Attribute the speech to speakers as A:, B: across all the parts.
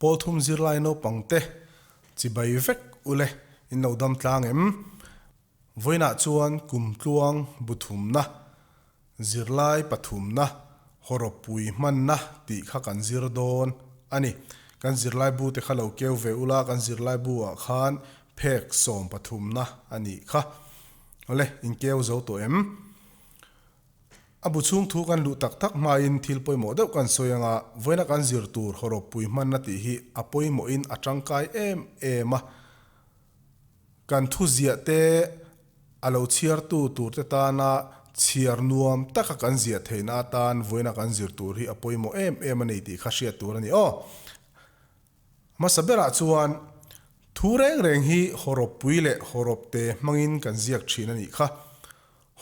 A: Pawlthum zirlai naupang te chibai vek ule in lo dam tlang em? Vawiinah chuan kum tluang bu thumna, zirlai pathumna, hawrawpui hmanna tih kha kan zir dawn a ni. Kan zirlai bu te kha lo keu ve ula kan zirlai bu ah khan phek sawm pathumna a nih kha. Awle, in keu zo tawh em? A bu chhung thu kan luh tak tak hmain thil pawimawh deuh kan sawi anga vawiina kan zir tur haw ropui hmanna tih hi a pawimawhin a tangkai em em a. Kan thuziah te a lo chhiartu turte tana chhiar nuam taka kan ziah theihna atan vawiina kan zir tur hi a pawimawh em em a ni tih kha hriat tur a ni. Aw hmasa berah chuan thu reng reng hi haw ropui leh haw ropte hmangin kan ziak thin a nih kha.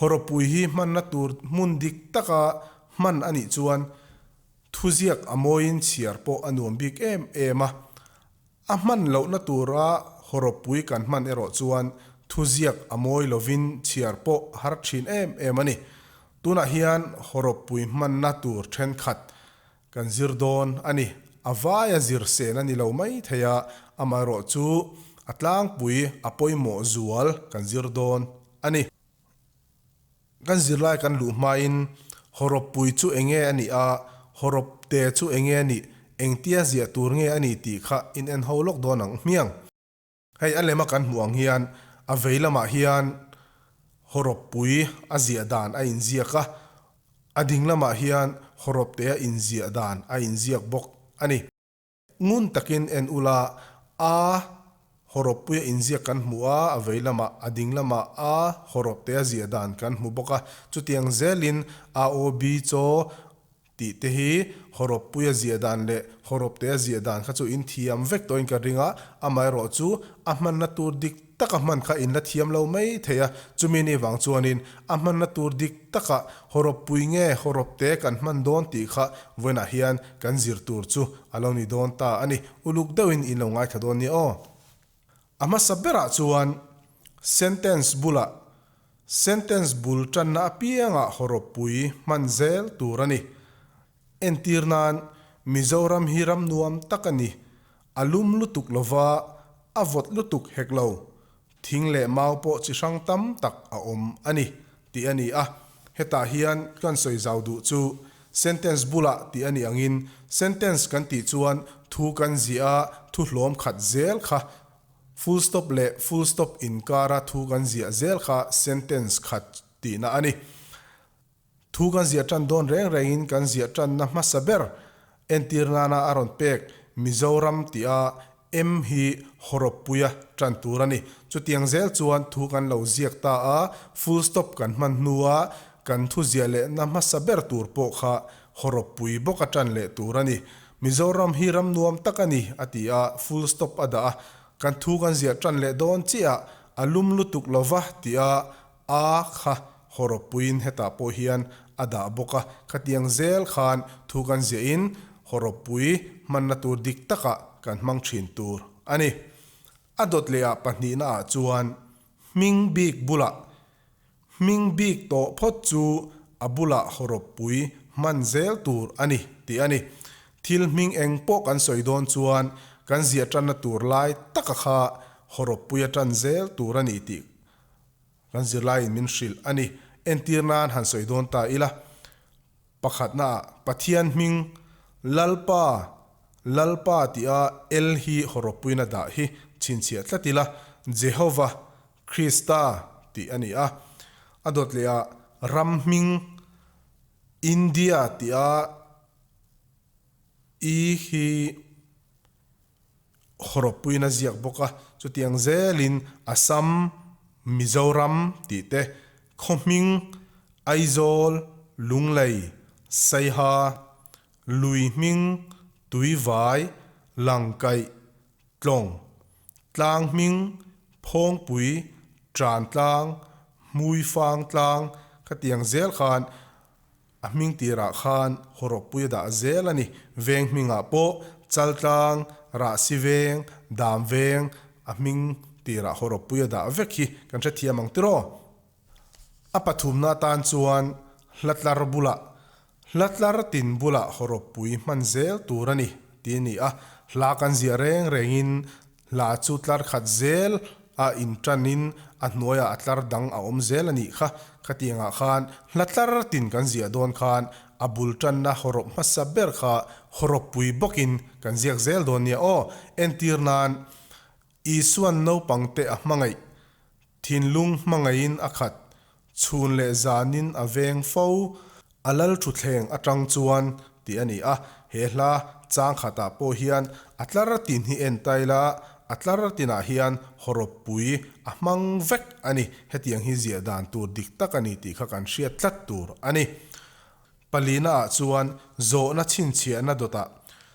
A: Horopui hi hmanna tur hmun dik taka hman a nih chuan thuziak a mawiin chhiar pawh a nuam bik em em a. A hman lohna tura horopui kan hman erawh chuan thuziak a mawi lovin chhiar pawh a har thin em em a ni. Tunah hian horopui hmanna tur thenkhat Kan zir dawn a ni. A vai a zir sen a ni lo maithei a, amaherawh chu a tlangpui a pawimawh zual kan zir dawn a ni. Kan zirlai kan luh hmain haw rawppui chu enge a nih a, haw rawp te chu enge a nih, engtia ziah tur nge a ni tih kha in en ho lawk dawn ang hmiang. Hei a lema kan hmuh ang hian a vei lamah hian Hawrawppui a ziah dan a inziak a, a ding lamah hian Hawrawptea inziah dan a inziak bawk a ni. Ngun takin en ula a Hawrawppuia inziak kan hmu a, a vei lamah, a ding lamah a Hawrawptea ziah dan kan hmu bawk a. Chutiang zelin a-o-bi chaw Tih te hi Hawrawppui a ziah dan leh Hawrawpte a ziah dan kha chu inthiam vek tawhin ka ring a, amaherawh chu a hmanna tur dik taka hman kha in la thiam lo mai thei a, chumi ni vang chuanin a hmanna tur dik taka Hawrawppui nge Hawrawpte kan hman dawn tih kha vawiinah hian kan zir tur chu a lo ni dawn ta a ni, uluk deuhin in lo ngaithla dawn nia aw. A hmasa berah chuan sentence bulah sentence bul tanna apiangah hawrawppui hman zel tur a ni. Entir nan Mizoram hi ram nuam tak a ni, a lum lutuk lova, a vawt lutuk hek lo, thing leh mau pawh chi hrang tam tak a awm a ni, tih a ni a, hetah hian kan sawi zau duh chu. Sentence bula tih a nih angin, sentence kan tih chuan thu kan ziah a, thu hlawm khat zel kha, full stop leh full stop inkara thu kan ziah zel kha sentence khat tihna a ni. Thu kan ziah tan dawn reng rengin kan ziah tanna hmasa ber entir nana a rawn pek, Mizoram tia Em hi hawrawppuia tan tur a ni. Chutiang zel chuan thu kan lo ziak ta a, full stop kan hman hnua kan thuziah lehna hmasa ber tur pawh kha hawrawppui bawk a tan leh tur a ni. Mizoram hi ram nuam tak a ni a ti a, full stop a dah a. Kan thu kan ziah tan leh dawn chiah a, a lum lutuk lo va ti a, A kha haw rawp puiin hetah pawh hian a dah bawk a, khatiang zel khan thu kan ziah in haw rawp pui hmanna tur dik takah kan hmang thin tur a ni. A dawt leh ah pahnihna ah chuan hming bik bulah hming bik tawh phawt chu a bulah haw rawp pui hman zel tur a ni tih a ni. Thil hming eng pawh kan sawi dawn chuan kan ziah tanna tur lai taka kha haw rawp puia tan zel tur a ni tih Kan zirlaiin min hrilh a ni. Entir nan han sawi dawn ta ila. Pakhatnaah Pathian hming Lalpa, Lalpa tia El hi hawrawppuina dah hi chhinchhiah tlat ila, Jehova, Krista tih a ni a. A dawt lehah ram hming India tia I hi. Hrawkpuiin a ziak bawk a, chutiang zelin Assam, Mizoram tih te, khawhming, Aizawl, Lunglei, Saiha, Lui hming, Tuivai, Langkaih, Tlawng, Tlang hming, Phawngpui, Trantlang, Hmuifang tlang, khatiang zel khan, A hming tirah khan Hawrawppui a dah zel a ni. Veng hmingah pawh Chaltlang, Rahsiveng, Damveng a hming tirah Hawrawppui a dah vek hi kan hrethiam ang tir aw. A pathumna atan chuan Hlatlar bula, Hlatlar tin bula Hawrawppui hman zel tur a ni, ti a ni a. Hla kan ziah reng rengin Hla chu tlar khat zel a in tanin a hnuaia a tlar dang a awm zel a nih kha. Khatianga khan hla tlar tin kan ziah dawn khan a bul tanna haw rawp hmasa ber kha haw rawp pui bawkin kan ziak zel dawn nia aw. Entir nan Isuan naupangte a hmangaih Thinlung hmangaiin a khat, chhun leh zanin a veng fo, a lal thutthleng atang chuan tih a ni a, he hla chang khatah pawh hian a tlar tin hi en ta ila, a tlar tinah hian haw rawp pui a hmang vek a ni, hetiang hi ziah dan tur dik tak a ni tih kha kan hriat tlat tur a ni. Palina ah chuan zawhna chhinchhiahna dawtah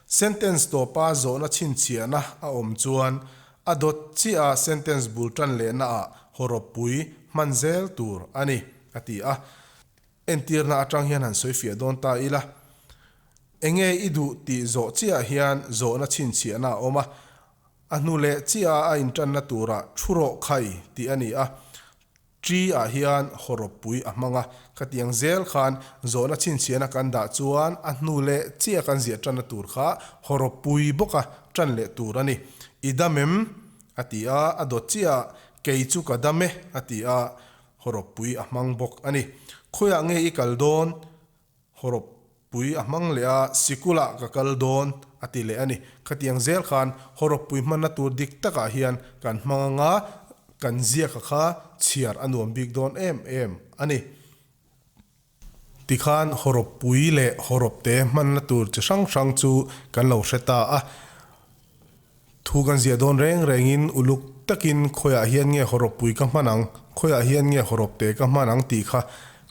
A: sentence tawpa zawhna chhinchhiahna a awm chuan a dawt chiaha sentence bul tan lehna ah haw rawp pui hman zel tur a ni, a ti a. Entirna atang hian han sawi fiah dawn ta ila, Enge i duh tih zawh chiaha hian zawhna chhinchhiahna a awm a, a hnu leh chiaha a intanna tura thu rawh khai tih a ni a. Ṭi ah hian haw rawp pui a hmang a, khatiang zel khan zawhna chhinchhiahna kan dah chuan a hnu leh chiah kan ziah ṭanna tur kha haw rawp pui bawka ṭan leh tur a ni. I dam em? a ti a, a dawt chiah a, kei chu ka dam e a ti a, haw rawp pui a hmang bawk a ni. Khawiah nge i kal dawn? Hawrawp pui a hmang leh a, sikula ka kal dawn, a ti leh a ni. Khatiang zel khan hawrawp pui hmanna tur dik takah hian kan hmang anga kan ziaka kha chhiar a nuam bik dawn em em a ni. Tikhan hawrawp pui leh hawrawp te hmanna tur chi hrang hrang chu kan lo hre ta a. Thu kan ziah dawn reng rengin uluk takin khawiah hian nge haw rawppui ka hman ang, khawiah hian nge haw rawpte ka hman ang tih kha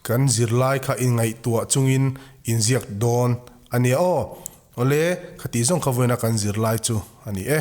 A: kan zir lai kha inngaihtuah chungin inziak dawn a nia aw. Awle, khatih zawng kha vawiina kan zir lai chu a ni e.